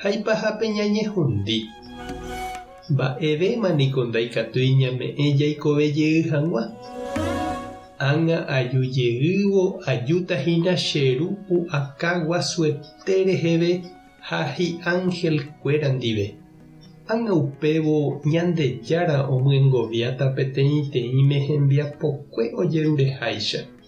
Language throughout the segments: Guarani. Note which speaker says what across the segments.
Speaker 1: ha ipahápe ñañehundi. Mba'evéma niko ndaikatúi ñame'ẽ jaikove jey hag̃ua. Ág̃a aju jeývo ajúta hína che Ru pu'aka guasuete reheve ha hi'ángel kuéra ndive. Ág̃a upévo Ñandejára omyengoviáta peteĩteĩme hembiapokue ojerureháicha.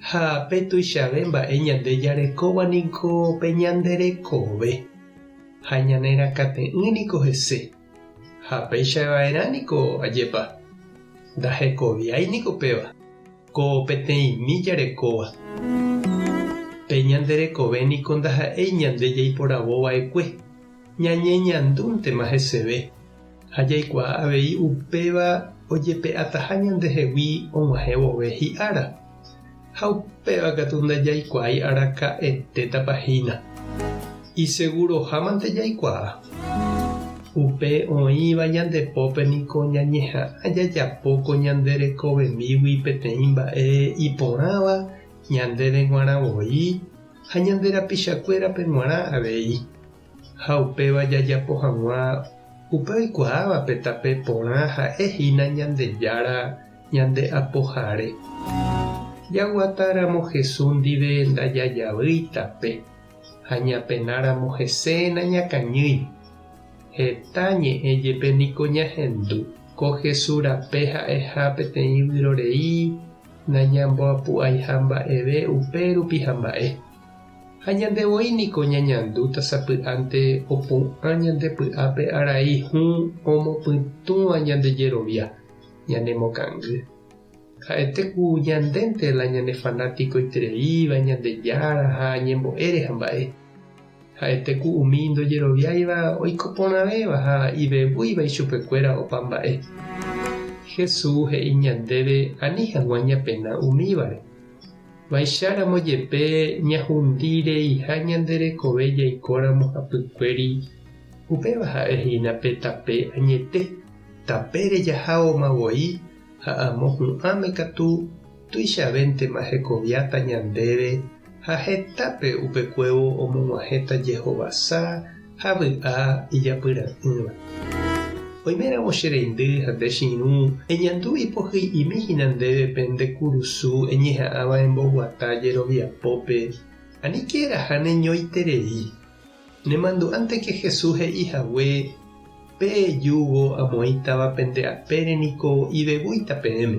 Speaker 1: Ha pe tuichave mba'e ñande jarekóva niko pe ñande rekove, ha ñane rakãte'ỹ niko hese. Ha péicha va'erã niko ajépa, ndahekoviái niko péva, ko peteĩmi jarekóva. Pe ñande rekove niko ndaha'éi ñande jaiporavo va'ekue, ñañeñandúntema heseve. Ha jaikuaa avei upéva ojepe'ataha ñandehegui og̃uahẽ vove hi'ára. Ha upéva katu ndajaikuaái araka'etétapa hína. Isegurohámante jaikuaa. Upe oĩva ñande pópe niko ñañeha'ã jajapo ko ñande rekovemígui peteĩ mba'e iporãva ñandéve g̃uarã voi ha ñande rapichakuérape g̃uarã avei. ha upéva jajapo hag̃ua upe oikuaávape tape porã ha'e hína Ñandejára ñande Apohare. Jaguata ramo Jesús ndive ndajajavýi tape, ha ñapena ramo hese nañakañýi. Heta ñe'ẽ jepe niko ñahendu, ko Jesús rape ha'eha peteĩ vyrorei nañamboapu'aiha mba'eve upe rupi hamba'e. Ha ñande voi niko ñañandúta sapy'ánte opu'ã ñande py'ápe arai hũ omopytũva ñande jerovia, ñanemokangy. Ha'ete ku ñandénte la ñane fanatikoitereíva Ñandejára ha ñembo'ére hamba'e. Ha'ete ku umi ndojeroviáiva oiko porãvéva ha ivevúiva ichupekuéra opa mba'e. Jesús he'i ñandéve ani hag̃ua ñapena umívare. Va'icharamo jepe ñahundi reiha ñande rekove jaikóramo hapykuéri, upéva ha'e hína pe tape añete, tapére jahágoma voi ha amo hu'ãme katu tuichavéntema hekoviáta ñandéve ha hetápe upekuévo omog̃uahẽta jehovasa ha vy'a ijapyra'ỹva. Oiméramo che reindy ha nde chiru, eñandu ipohy'imi hína ndéve pe nde kurusu eñeha'ãva emboguata jeroviapópe, anikéraha neñoiterei. Nemandu'ánteke Jesús he'i hague, Pe júgo amoĩtava pende apére niko ivevúita peẽme.